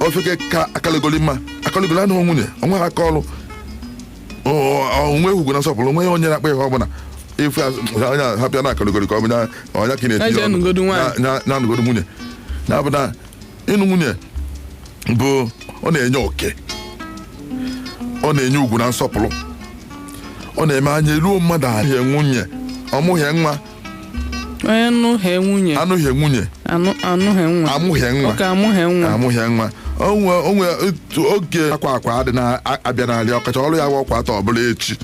ofeke ka akalegoli mma akalegoli anụghị nwunye onweghị aka ọrụ onwe ugwu na nsọpụrụ onwe ya onye na-akpa ihe ọbụla ife onye hapịa na akalegoli ka ọ bụ nya- ọnya ka ị na-eti Eze nụgodu nwaanyị. na-anụgodo nwunye ya bụ na ịnụ nwunye bụ ọ na-enye oke ọ na-enye ugwu na nsọpụrụ ọ na-eme anya eruo mmadụ ahụ nwunye ọ mụhe nwa onye nụhe nwunye anụghị nwunye anụ- anụhe nwa amụghị nwa oke amụhe nwa amụghị nwa onwe onwe otu oge akwa akwa adị na-abịa n'alị ọkacha ọrụ ya bụ ọkwa atọ ọbụla echi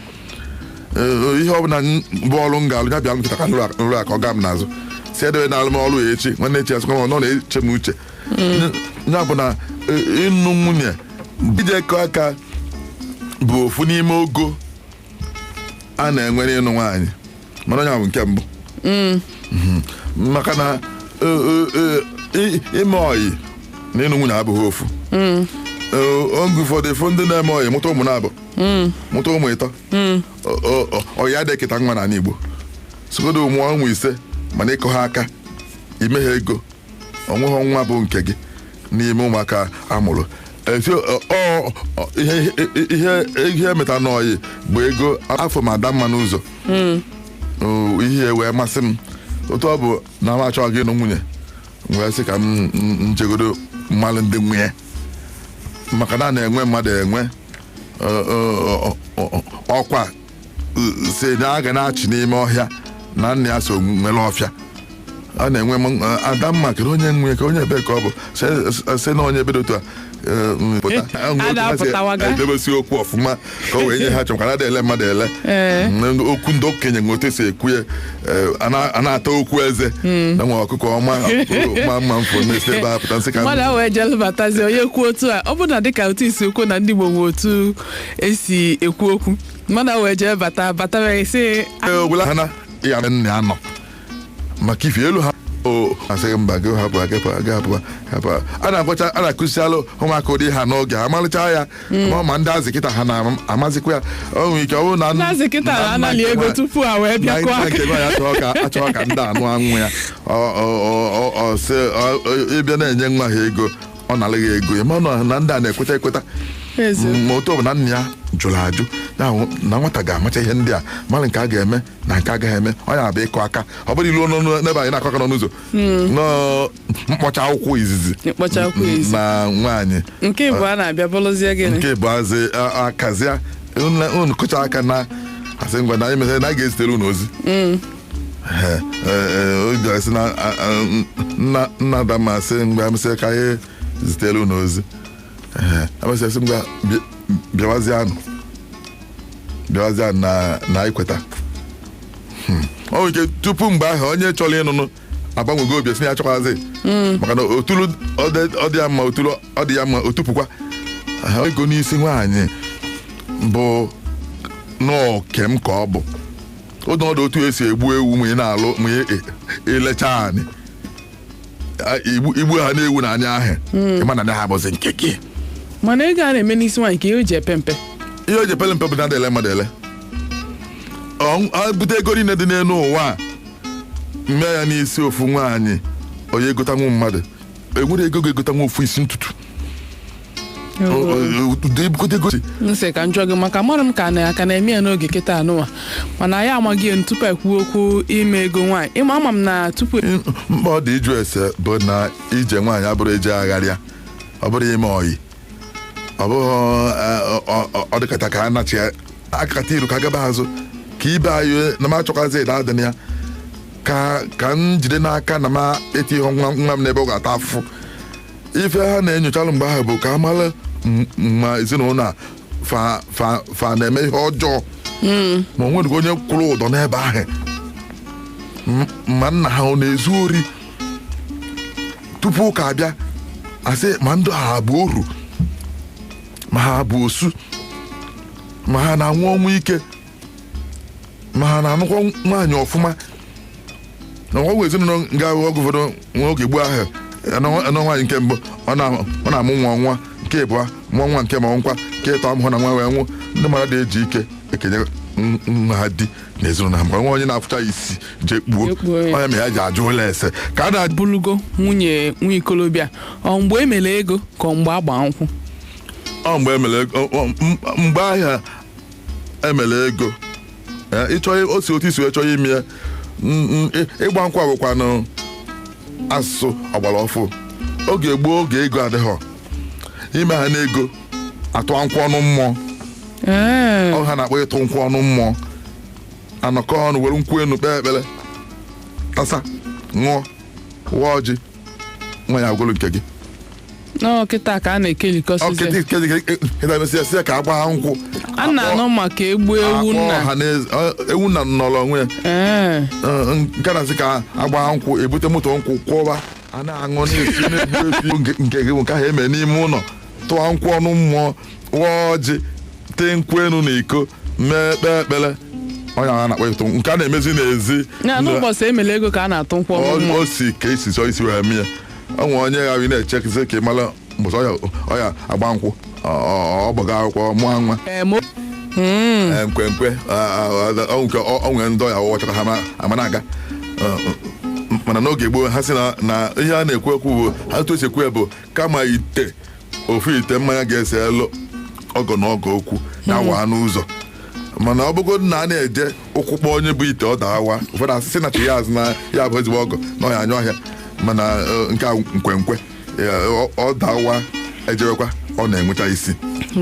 Ee, ihe ọbụla m- bụ ọrụ m ga-alụ ya bịa kịta ka m rụ m rụa ka ọ ga m n'azụ si edebenalụ m ọrụ ya echi nwanne echi asịkwa m ọ nọ na-eche m uche ya bụ na e, ịnụ nwunye ije kụọ aka bụ ofu n'ime ogo a na-enwere ịnụ nwaanyị mana ọ ya bụ nke mbụ mm. mhm. maka na e, e, e, ime ọyị na ịnụ nwunye abụghị ofu mm. oge ụfọdụ ị fụ ndị na-eme ọyị mụta ụmụ naabọ mm. mụta ụmụ ịtọ ọyị adịghị eketa nwa n'ala Igbo sogodo mụọ ụmụ ise mana ị kụha aka i meha ego onweghị nwa bụ nke gị n'ime ụmụaka a mụrụ efi ọ- ọ- ọ- ihe ihe ihe meta n'ọyị bụ ego afọ ma ada mma n'ụzọ O, ihe wee masị m otu ọ bụ na m achọ ịga ịnụ nwunye m wee sị ka m m- m jegodo malụ ndị nwe e maka na a na-enwe mmadụ enwe ọ- ọ- ọ- ọ- ọkwa sị na a ga na-achị n'ime ọhịa na nna ya so nwere ọfịa a na-enwe m- eh, adamma kere onye nwe ka onye ebe ka ọ bụ se- se na onye ebe dị otu a eh, mm, pụta. Eh, Enwe a otu ha si na-apụtawaga. edebesi okwu ọfụma ka o wee nye ha chọkwa na ele mmadụ ele Ee. Mm, okwu ndị okenye nwe otu esi ekwu ya eh, a na- a na-ata okwu eze na nwa ọkụkọ ọma ma mma m fụ na-esi ebe a pụta m sị ka mmadụ ahụ ejelụbatazi onye kwuo otu a ọ bụ na dịka otu i si kwuo na ndị Igbo nwe otu esi ekwu okwu mmadụ a wee jee bata bata wee sị Ee, ogwula ha na ya na nna ya nọ maka ife elu ha o asịghị mba gị hapụ agapụ agapụ hapụ a na-agwacha a na-akụzialụ ụmụaka ụdị ha n'oge a malịcha ya ma ma ndị azị kịta ha na-amazikwa ya o nwere ike ọ bụrụ na nna- Ndị kịta na nna anali nke ego nwa- tupu ha wee na bịakwa nna nke nwa ya achọọ ka achọọ ka ndị a nụa nwa ya Ọ- ọ- ọ- ọ- ọ sị, ọ- ọ- ịbịa na-enye nwa ha ego ọ nalaghị ego ya mana na ndị a na-ekweta ekweta ma otu ọ bụ na nna ya jụrụ ajụ ya bụ na nwata ga-amacha ihe ndị a mara nke a ga-eme na nke a gaghị eme ọ ya bụ ịkụ aka ọ bụrụ i luo n'ebe anyị na-akụ aka n'ọnụ ụzọ nọọ mkpọcha akwụkwọ izizi Mkpọcha akwụkwọ izizi. na nwaanyị nke ịbụa na-abịa bụrụzie gịnị nke bụ azị akazia unu kụcha aka na asị ngwa na anyị mesịrị na a ga-ezitere unu ozi Ee, ee, obi asị na a- a- nna nna ada m asị mgbe amesịa ka anyị zitere unu ozi Ee, amesịa sị ngwa bịa- bịawazianụ bịawazianụ na na anyị kweta Hmm. ọ nwere ike tupu mgbe ahụ onye chọrọ ịnụnụ agbanwego obi sị ya achọkwazi maka na otulu ọ dị- ọ dị ya mma otulu ọ dị ya mma otupụkwa Aha, ọ ego n'isi nwaanyị bụ n'oke m ka ọ bụ ụdị ọdụ otu esi egbu ewu ma ị na-alụ ma ị- ị- ilecha anị A- igbu igbuhana ewu na anị ahụ ịma na anị ahụ bụzi nke gị mana ego a na-eme n'isi nwaanyị ka ihe o ji epe mpe ihe o ji pele mpe bụ na adị ele mmadụ ele Ọ- ọ bute ego niile dị n'elu ụwa a, mee ya n'isi ofu nwaanyị onye egotanwu mmadụ enwere ego ga-egotanwu ofu isi ntutu ude ebugote ego m sị ka m jụọ gị maka amara m ka na aka na-eme ya n'oge kịta anụwa mana anyị amaghị ya tupu anyị kwuo okwu ime ego nwaanyị ịma ama m na tupu mkpa ọ dị ịjụ ese bụ na ije nwaanyị abụrọ eje agharịa ọ bụrọ ime ọyị ọ bụghị ọ- ọ- ọ- ọ dịkata ka a nachi ya akata iru ka gaba azụ ka ibe anyị na m achọkwazi ịda adị na ya ka ka m jide n'aka na m etighị nwa nwa m n'ebe ọ ga-ata afụfụ ife ha na-enyochalụ mgbe ahụ bụ ka a mara m- ma ezinụlọ a fa fa fa na-eme ihe ọjọọ ma o nweghị onye kwụrụ ụdọ n'ebe ahụ M- ma nna ha ọ na-ezu ori tupu ụka abịa asị ma ndị a bụ oru ma ha bụ osu ma ha na-anwụ ọnwụ ike ma ha na-anụkwa nwaanyị ọfụma na o nwe ezinụlọ ị ga-ahụ oge ụfọdụ nwa oge gboo ahụ a nụọ a nụọ nwaanyị nke mbụ ọ na- ọ na-amụ nwa nwa nke ịbụa mụọ nwa nke ma nkwa nke ịtọ amụhụ na nwa wee nwụ ndị mmadụ adị eji ike ekenye n- nwa ha di na ezinụlọ ha mgbe nwa onye na-afụcha ya isi jee kpuo Jee kpuo ya. onye ma ya ji ajụlụ ese ka a na-abụlụgo nwunye nwa ikolobịa ọ mgbe e mere ego ka ọ mgbe agba nkwụ ọ mgbe emere ọ- ọ- m- mgbe ahụ emere ego Eh, ịchọ o si otu i si wee chọọ ime ya N- n- ị- ịgba nkwụ bụkwanụ asụsụ ọgbara ọfụ oge gboo oge ego adịghọ imehana ego atụa nkwụ ọnụ mmụọ Mm. ọ ihe a na-akpọ ịtụ nkwụ ọnụ mmụọ anọkọ ọnụ were nkwụ enu kpee ekpere tasa ṅụọ waa ọjị nwaanyị aghọrọ nke gị nọ kịta ka a na-ekelikọsizi ọ kịta ikedi kịta mesịa sị ya ka agba ha nkwụ a na-anụ maka egbu ewu akpọ nna ọha na eze- ọ- ewu nna nọrọ onwe ya Ee. Ọ, nke na-asị ka agba ha nkwụ ebute moto nkwụ kwọba a na-aṅụ na-esi na-egbu efi nke nke gị bụ nke ahụ eme n'ime ụlọ tụọ nkwụ ọnụ mmụọ waa ọjị tee nkwụ enu na iko mee kpee ekpere ọ ya a na-akpọ ịtụ nke a na-emezi n'ezi na n'ụbọchị e mele ego ka a na-atụ nkwụ ọnụ mmụọ o si ka e si chọọ isi wee mee ya o nwere onye ghara ị na-echekizi ka ị mara mbọsị ọ ya ọ ya-agba nkwụ ọ- ọ- ọ gbaga akwụkwọ mụọ nwa Ee, mo- Ee, nkwenkwe a- a- a- ọ nke ọ- ọ nwere ndị ọya ọwụwa chọta ha ma- ama na-aga Ọ, ọ, mana n'oge gboo ha sị na na ihe a na-ekwu ekwu bụ ha otu e si ekwu ya bụ kama ite ofu ite mmanya ga-eseelu ọgọ na ọgọ okwu ya waa n'ụzọ mana ọ bụgo na a na-eje ụkwụ kpọọ onye bu ite ọ dawaa ụfọdụ asị sị na chi ya ajụ na ya bụ ezigbo ọgọ na ọya anya ọhịa mana eh, nke a nkwenkwe ya, ọ- ọ dawaa e jewekwa ọ na-enweta isi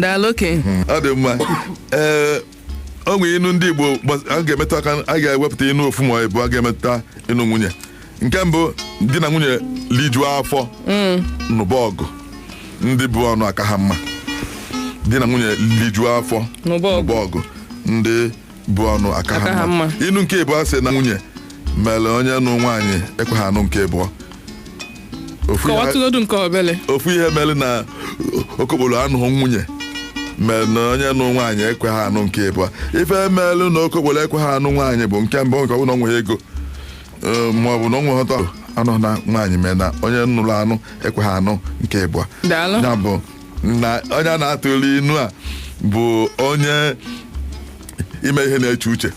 daalụ okenye ọ dị mma ee o nwere inu ndị igbo gbas- a ga-emetụ aka a ga-ewepụta inu ofu ma ịbụa ga-emetụta ịnụ nwunye nke mbụ di na nwunye lijuo afọ nụba ọgụ ndị bu ọnụ aka ha mma di na nwunye lijuo afọ Nụba ọgụ. nụba ọgụ ndị bu ọnụ aka Aka ha ha mma mma. inu nke ịbụa sị na nwunye mere onye nụ nwaanyị ekweghị anụ nke ịbụọ ofu ihe- kọwatụgodu nke obele ofu ihe mere na okokporo anụghị nwunye mere na onye nụ nwaanyị ekweghị anụ nke ịbụa ife mere na okokporo ekweghị anụ nwaanyị bụ nke mbụ nke ọ bụ na ọ nweghị ego Ee, ma ọ bụ na ọ nweghị ụtọ a nụ na nwaanyị mere na onye nụrụ anụ ekweghị anụ nke ịbụa Daalụ. ya bụ na onye a na-atụlị inu a bụ onye ime ihe na-eche uche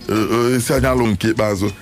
Ee, ee, isi anya alụ nke ikpeazụ